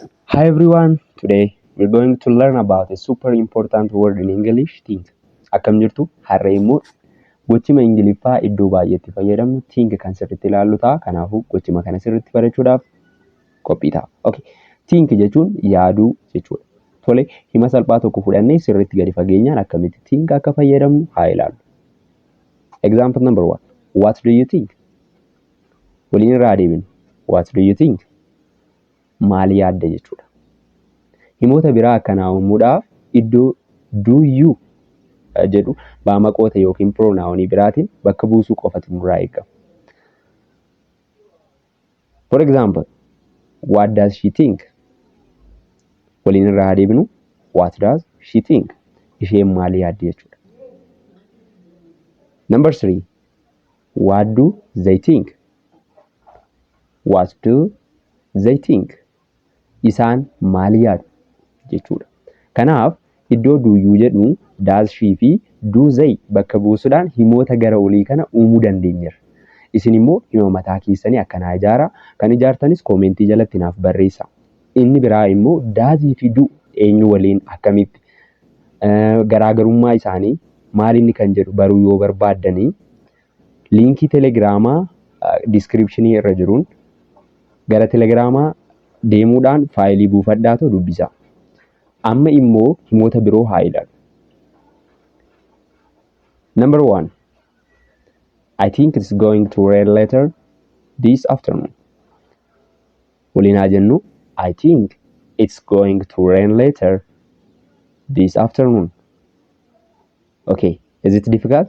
Hi everyone, today we're going to learn about a super important word in English, think. Akkam jirtu? Har'a immoo gochima Ingiliffaa iddoo baay'eetti fayyadamnu think kan sirriitti ilaallu ta'a. Kanaafuu gochima kana sirriitti barachuudhaaf qophii ta'a. Okay. Think jechuun yaaduu jechuudha. Tole, hima salphaa tokko fudhannee sirriitti gadi fageenyaan akkamitti think akka fayyadamnu haa ilaallu. Example number one. What do you think? Waliin irraa adeeminu. What do you think? maal yaadda jechuudha. Himoota biraa akkanaa uumuudhaaf iddoo do you jedhu baamaqoota yookiin piroonaawonii biraatiin bakka buusuu qofatu nurraa eegama. For example, What does she think? Waliin irraa haa deebinu. What does she think? Isheen maal yaaddi jechuudha. Number three, What do they think? What do they think? Isaan maal yaadu? jechuudha. Kanaaf iddoo do you jedhu does she fi do they bakka buusuudhaan himoota gara olii kana uumuu dandeenyerra. Isin immoo hima mataa keessanii akkanaa ijaara. Kan ijaartanis koomentii jalatti naaf barreessa. Inni biraa immoo does fi do eenyu waliin akkamitti garaagarummaa isaanii maal inni kan jedhu baruu yoo barbaaddanii Liinkii telegiraamaa description irra jiruun gara telegiraamaa deemuudhaan faayilii buufadhaa too dubbisaa. Amma immoo himoota biroo haa ilaalu. Number one, I think it's going to rain later this afternoon. Waliin haa jennu. I think it's going to rain later this afternoon. Okay, is it difficult?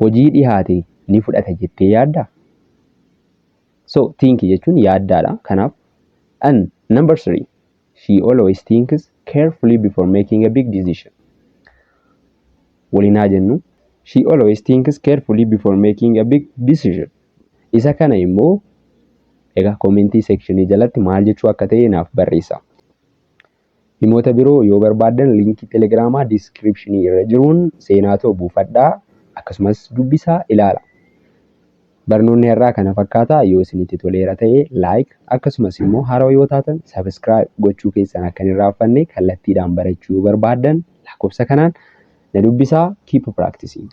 hojii dhihaate ni fudhata jettee yaaddaa? So think jechuun yaaddaadha. Kanaaf and number three she always thinks carefully before making a big decision. Waliin haa jennu. She always thinks carefully before making a big decision. Isa kana immoo egaa koomentii seekshinii jalatti maal jechuu akka ta'e naaf barreessa. Himoota biroo yoo barbaaddan liinkii Telegiraamaa diskiripshinii irra jiruun seenaatoo buufadhaa, akkasumas dubbisaa, ilaala. Barnoonni har'aa kana fakkaata. Yoo isinitti toleera ta'e like, akkasumas immoo haarawa yoo taatan subscribe gochuu keessan akka hin irraanfanne kallattiidhaan barachuu yoo barbaaddan lakkoofsa kanaan na dubbisaa. Keep practicing!